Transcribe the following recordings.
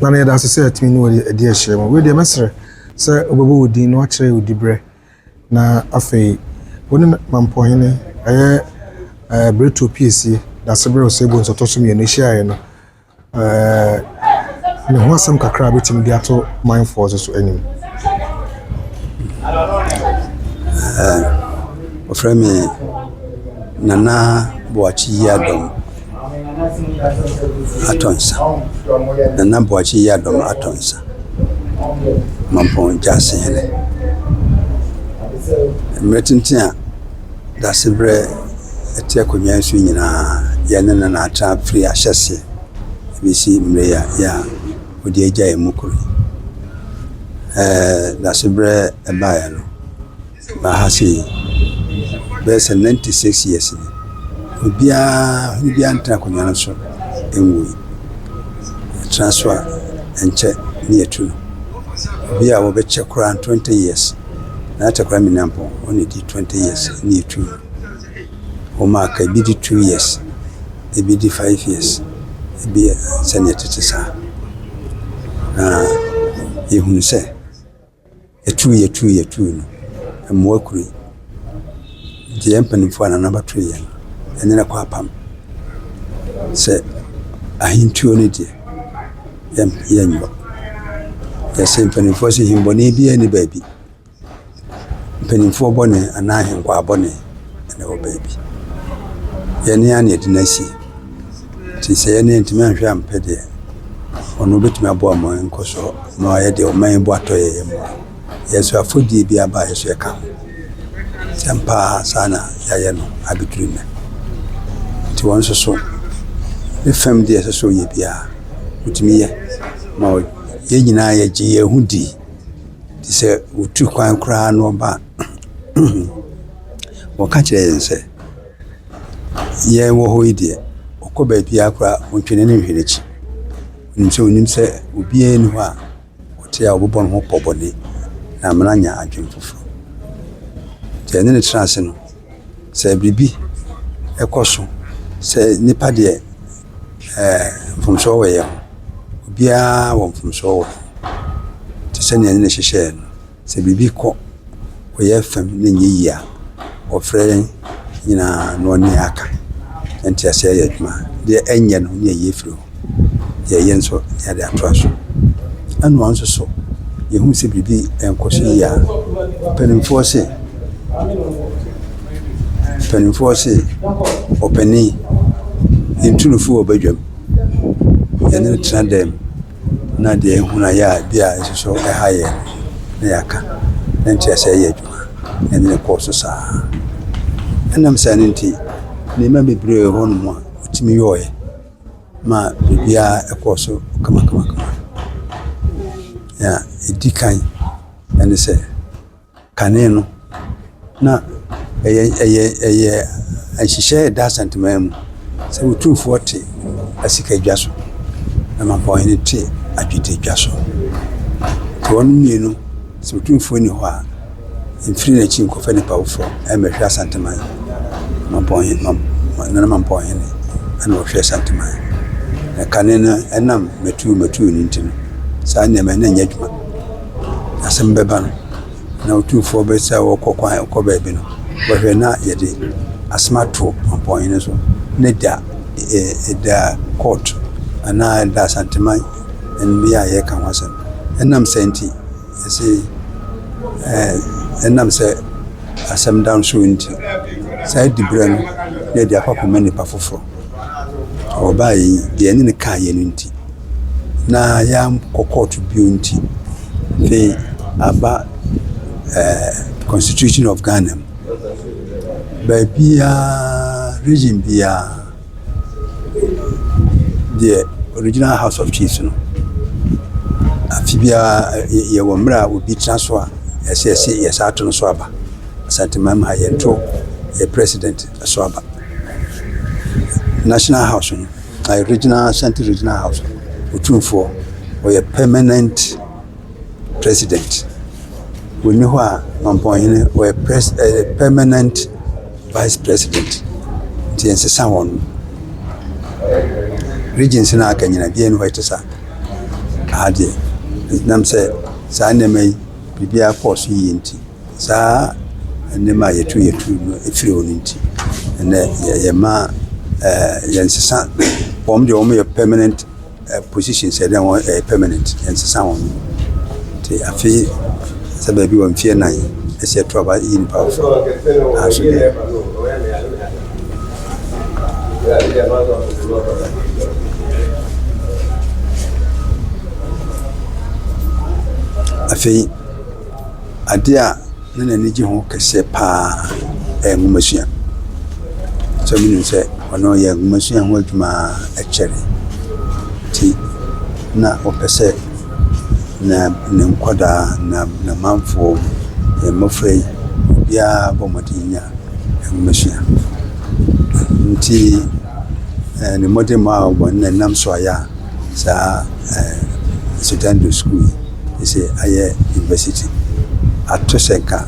Nana yɛda ase sɛ yɛtumi ne wo adi ahyia mu. Wei deɛ mɛsrɛ sɛ wobɛbɔ wo din na wakyerɛ yɛ wo diberɛ na afei wo ne Mampɔhene ɛyɛ ɛɛ Breto Piesie Dasebrɛ Osebo nsɔtɔ so mmienu hyiaeɛ no ɛɛ ne ho asɛm kakra a bɛtumi de ato manfoɔ nso so anim. Wɔfrɛ me Nana Boakye Yiadom. atɔ nsa. Nana Boakye Yiadom atɔ nsa. Mampɔn Nkyaaseɛhene. Mmerɛ tenten a Daasebrɛ te akonnwa yi so nyinaa, yɛne no na atra firi ahyɛseɛ bɛsi mmerɛ yi a yɛ a ɔde agya yɛn mu koro yi. Ɛɛ Daasebrɛ baeɛ no. Wɔ ha sei, bɛyɛ sɛ ninety six years ni, obiara, ɔhene biara ntena akonnwa no so nwui. Ɛtra so a, ɛnkyɛ ne yɛtu no. Obi a wɔbɛkyɛ koraa twenty years, na akyɛ koraa me nyampɔn, wɔn na ɛdi twenty years ne yɛtu no. Wɔn a aka ebi di two years, ebi di five years, ebi sɛnea ɛtete saa. Na yɛhunu sɛ. Yɛtui yɛtui yɛtui no mmoa kuro yi nti yɛn mpaninfoɔ a nana bɛtoo yɛn no yɛne no kɔ apam sɛ ahentuo no deɛ yɛn yɛn nyɔ yɛsɛ mpaninfoɔ sɛ hembɔne biara ni baabi mpaninfoɔ bɔne anaa ahenkwaa bɔne ɛna ɛwɔ baabi yɛne yɛn ani yɛde no asie. Nti sɛ yɛne antumi anhwɛ ampɛ deɛ ɔno ɔbɛtumi aboa ɔman nkɔsoɔ na wayɛ deɛ ɔman bo atɔ yɛn yɛn mmoa. Yɛn nso afɔdie bi aba a yɛn nso yɛka ho. Sɛ ampa ara saa na yɛayɛ no abɛduru nnɛ. Nti wɔn nso so ne fam deɛ ɛsɛ sɛ ɔyɛ biara ɔtumi yɛ ma yɛn nyinaa yɛgye yɛn ho di. Nti sɛ wɔtu kwan koraa na wɔba a wɔka kyerɛ yɛn sɛ. Yɛn wɔ hɔ yi deɛ, wokɔ baabiara koraa a, odwennini no nhwɛ n'akyi. Wonim sɛ onim sɛ obiara nni hɔ a ɔte a ɔbɛbɔ ne ho pɔ bɔne na ama no anya adwene foforo. Nti ɛne no tra ase no, sɛ biribi kɔ so sɛ nnipa deɛ ɛɛ mfomsoɔ wɔ yɛn ho. Obiara wɔ mfomsoɔ wɔ ho te sɛdeɛ yɛn ne no hyehyɛeɛ no. Sɛ biribi kɔ ɔyɛ fam na ɛnyɛ yie a, wɔfrɛ yɛn nyinaa na wɔne yɛn aka yɛn nteaseɛ ayɛ adwuma. Deɛ ɛnyɛ no ne yɛyi afiri hɔ, deɛ ɛyɛ nso ne yɛde atoa so. Ɛnoa nso so, yɛhu sɛ biribi nkɔ so yie a, mpanimfoɔ se, mpanimfoɔ se ɔpanin, ntu no firi wɔ badwam, yɛne no tena dan mu. na deɛ ehunu ayɛ a ebi a nso so ɛha yɛn na yɛaka na nkyerɛ sɛ ɛyɛ adwuma. Ɛne no kɔɔ so saa ara. Ɛnam saa no nti, nneɛma bebree wɔ hɔnom a wɔtumi yɔeɛ ma biribiara ɛkɔɔ so kamakamakama. Nea ɛdi kan ne sɛ. Kane no, na ɛyɛ ɛyɛ ɛyɛ nhyehyɛe a ɛda Asanteman mu sɛ Otumfoɔ te asikadwa so na Mampɔhene te adwetedwa so. Nti wɔn mmienu, sɛ Otumfoɔ nni hɔ a, mfiri n'akyi nkɔfa nnipa foforɔ mmɛhwɛ Asanteman. Mampɔhene, Mam, Nana Mampɔhene na ɔhwɛ Asanteman. Na kane no, ɛnam matuo matuo no nti no, saa nneɛma yi na ɛnyɛ adwuma. asɛm bɛba no, na otumfoɔ bɛ sɛ ɔrekɔ kwan rekɔ baabi no, wɔhwɛ na yɛde asɛm ato ɔpɔnpɔnhene so, ne da eh, da court anaa da Asanteman ɛno bi a yɛreka ho asɛm. Ɛnam sɛ nti, yɛse eh, ɛnam sɛ asɛm da so nti, saa diberɛ no na yɛde akɔ akɔma nnipa foforɔ. Ɔbaa yi, deɛ yɛne no kaeɛ no nti, na yɛankɔ kɔɔto bio nti, afei aba ɛɛɛ kɔnsitityuhyin ɔf Ghana mu. Baabiara, rigyin biara, deɛ ɔrigyinal haos ɔf kyifs no, afe biara yɛwɔ mmerɛ a obi tena so a, ɛsɛ yɛse yɛsan to no so aba. Asanteman mu ha, yɛnto yɛn prɛsidɛnt. so aba. National House no ayɛ regional Ashanti regional house otumfoɔ ɔyɛ permanent president ɔni hɔ a mampɔnhene ɔyɛ pres ɛɛ permanent vice president nti ɛnsesa wɔn regions no a aka nyinaa biara ni hɔ ɛte saa aha deɛ nam sɛ saa nneɛma yi biribiara kɔɔ so yie nti. saa nneɛma a yɛtu yɛtu no firi hɔ no nti, ɛnɛ yɛma yɛnsesa wɔn deɛ wɔyɛ permanent positions ɛdɛ wɔn ɛyɛ permanent yɛnsesa wɔn nti afe sɛ baabi wɔ mfeɛ nan ɛsɛ ɛto aba yi nipa fo aso deɛ afei Adeɛ a na n'ani gye ho kɛseɛ pa ara yɛ nwomasua. Sɛ wonim sɛ ɔno ɔyɛɛ nwomasua ho adwuma ara kyɛre nti na ɔpɛ sɛ na ne nkwadaa, na n'amanfoɔ, yɛn mmɔfra yi, obiara bɔ mmɔden nya nwomasua. Nti. ne mmɔdemmɔ a wɔbɔ ne nam so ayɛ a saa Sultan Bello Sukuu yi sɛ ayɛ University. Ato sɛ nka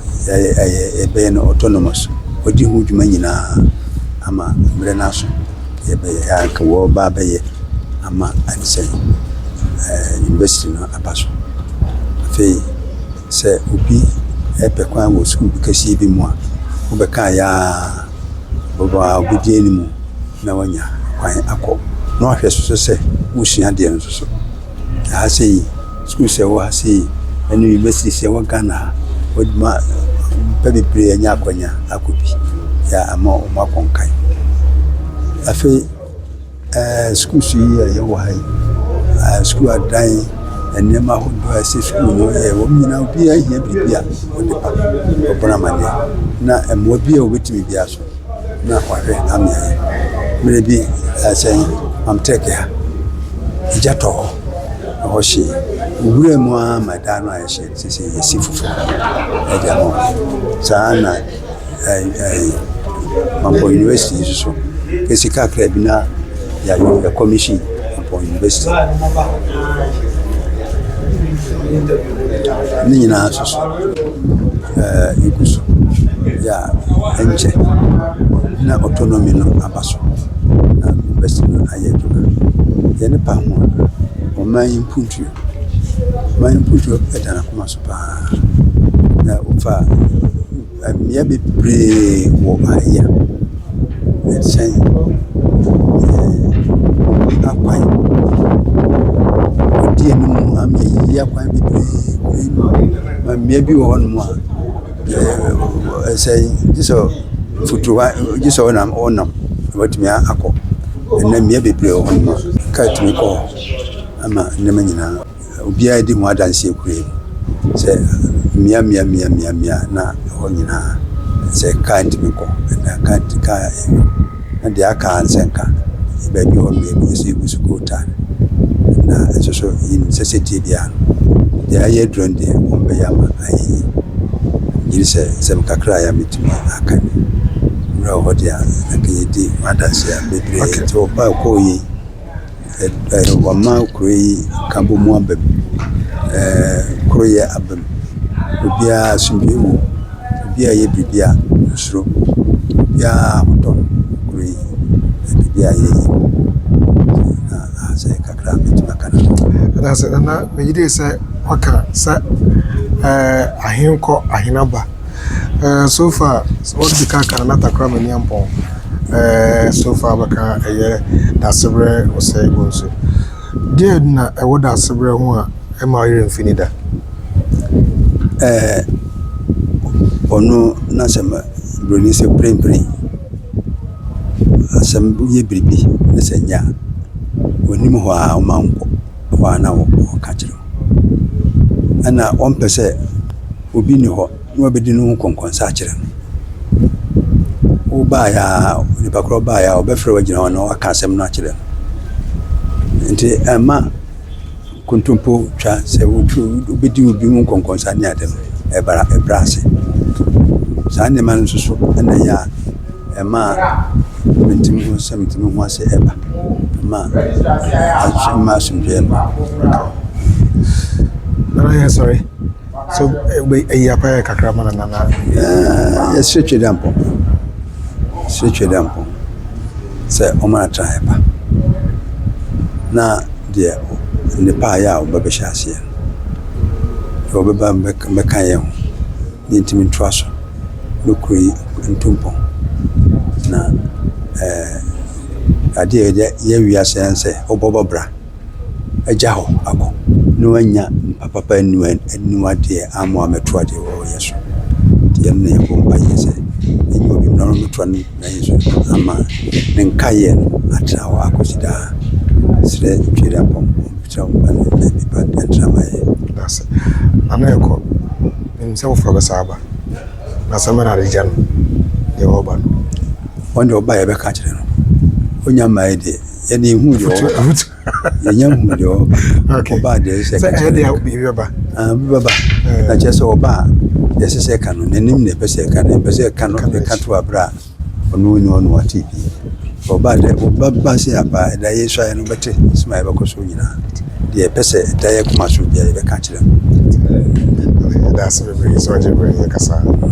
yɛbɛyɛ no autonomous, ɔdi ho dwuma nyinaa ama mmerɛ no aso, anka wɔreba abɛyɛ ama adesayi University no aba so. Afei sɛ obi pɛ kwan wɔ sukuu kɛseɛ bi mu a, wobɛkaeɛ ara. Wɔba agodie no mu na wɔanya kwan akɔ na wɔahwɛ nso sɛ wosua adeɛ nso so. Na ha sei, sukuus a ɛwɔ ha sei ne universities a ɛwɔ Ghana ha, wɔma nnipa bebree anya akwanya akɔ bi. Yɛ ama wɔakɔ nkan. Afei. Ɛɛ, sukuu su yi a yɛwɔ ha yi, ɛɛ, sukuu adan, nneɛma ahodoɔ a ɛsɛ sukuu no yɛ, wɔn nyinaa obiara hia biribi a ɔde ba ɔbɔ no amaneɛ na mmoa bi a wɔbɛtumi biara nso na wahwɛ ama yɛn. Mmerɛ bi ɛɛ sɛ Mamtrɛk ha, egya tɔɔ hɔ na hɔ hyee. Wɔwuraa mu ara ma ɛdaa no ayɛ hye, seesei yɛasi foforɔ de ama wɔn. Saa ara na Mampong University yi so kesi kakra bi na yɛ commission Mampong University ne nyinaa so so egu so yɛ a ɛnkyɛ na autonomy no aba so na university no ayɛ adwuma yɛne pa ho a ɔman yi mpuntuo ɔman yi mpuntuo ɛda nakoma so. paa na ɔfa mmea bebree wɔ aya ɛsɛn akwan ɔdi anim ama eyi akwan bebree na mmea bi wɔ hɔ nom a ɛsɛn gye sɛ foto gye sɛ ɔnam ɔnam na watumi akɔ ɛnna mmea bebree wɔ hɔ nom a kaa tumi kɔ hɔ ama nneɛma nyinaa. Obiara di ho adanse akuraa mu sɛ mia-mia-mia-mia-mia na ɛhɔ nyinaa sɛ kaa ntumi nkɔ. Na kaa nti kaa na deɛ aka nsɛnka baabi hɔ no ebu ɛsɛ ebu so koota na ɛso so yɛn sɛsɛ tie biara no deɛ ayɛ aduro no deɛ wɔn bɛyɛ ama ayɛ yie. Gyiri sɛ nsɛm kakra a yɛ mɛtumi aka ni. Mmerɛ wɔ hɔ deɛ anka yɛdi ho adanse a bebree nti ɔbaa kɔɔ yie. Wɔama kuro yi nkabom aba mu. Koroyɛ aba mu. Obiara, asomdwoe wɔ mu. Obiara reyɛ biribi a ɔsuro. Obiara ahotɔ wɔ kuro yi. Biribiara yɛ yie. Na asɛe kakra a mɛtumi aka no nie. Meda wo ase. Nana, megye di sɛ woaka sɛ ahenkɔ ahenaba. So far sɛ ɔdze kan ka no na takora me nyampɔn so far bɛka ɛyɛ dasebrɛ ɔsɛe bɔ nsu deɛ na ɛwɔ dasebrɛ ho a ɛma ɔyere mfini da. Ɔno na sɛ ma broni sɛ prɛnprɛn asɛm yɛ biribi ne sɛ nya ɔnim hɔ a ɔma nkɔ. hɔ a na wɔka kyerɛ wo. Nna wɔmmpɛ sɛ obi nyi hɔ na obedzi no ho nkɔnkɔnsa akyerɛ no. Wo bae a, nyimpa kor bae a ɔbɛfrɛ wo egyina hɔ na ɔaka asɛm no akyerɛ no. Ntsi mma nkontompo nntwa sɛ wotu wobedzi obi ho nkɔnkɔnsa nye adze no, ebara brɛ ase. Saa ndzɛmba no so so na eyɛ a. ɛma metumi hu sɛ metumi ho ase ɛba ɛma ɛma asomdwoeɛ ba. Nana yɛsɔre so ɛyi apa yɛ kakra ma nana na. Yɛsrɛ Twe Dampɔn yɛsrɛ Twe Dampɔn sɛ ɔma atra yɛ pa na deɛ nnipa a yɛ a wɔbɛhyɛ aseɛ no wɔbɛba bɛka yɛ ho. Yentumi ntoa so no kuro yi ntu mpɔn. Na eh, adeɛ yɛde yɛ wiase ara sɛ wobɔbɔ bra, agya hɔ akɔ na wanya mpa papa anu anu adeɛ amoa mɛto adeɛ wɔ yɛ so. Nti yɛm na yɛbɔ mpa yɛ sɛ ɛnyɛ obi mmra no mɛto anu Nanso ama ne nkaeɛ no atra hɔ akɔsi daa. Serɛ Twereampɔn kyerɛ wo mma no na nnipa ntra ma yɛn. Dase. Maame ɛkɔ. Menim sɛ foforɔ bɛsan aba. Na sɛ mɛna de gya no deɛ ɔreba no. Wɔn deɛ ɔba a yɛbɛka akyerɛ no. Ɔnya mmaeɛ deɛ yɛde nhuu deɛ ɔwɔ. yɛnya hu deɛ ɔba a deɛ ɛsɛ sɛ ɛka kyerɛ no biribi bɛba na kyerɛ sɛ ɔba a deɛ ɛsɛ sɛ ɛka no n'anim na ɛpɛ sɛ ɛka no ɛpɛ sɛ ɛka no ɛka to aberɛ a ɔno ɔni ɔno ate bi ɔba a deɛ ɔba ba sɛ aba ɛda yɛ so ayɛ no bɛte sima yɛbɛkɔ so nyinaa deɛ ɛpɛ sɛ ɛda yɛ koma so bia yɛbɛka kyerɛ no ɛda ase bebree sɛ ɔgye berɛ yɛkasa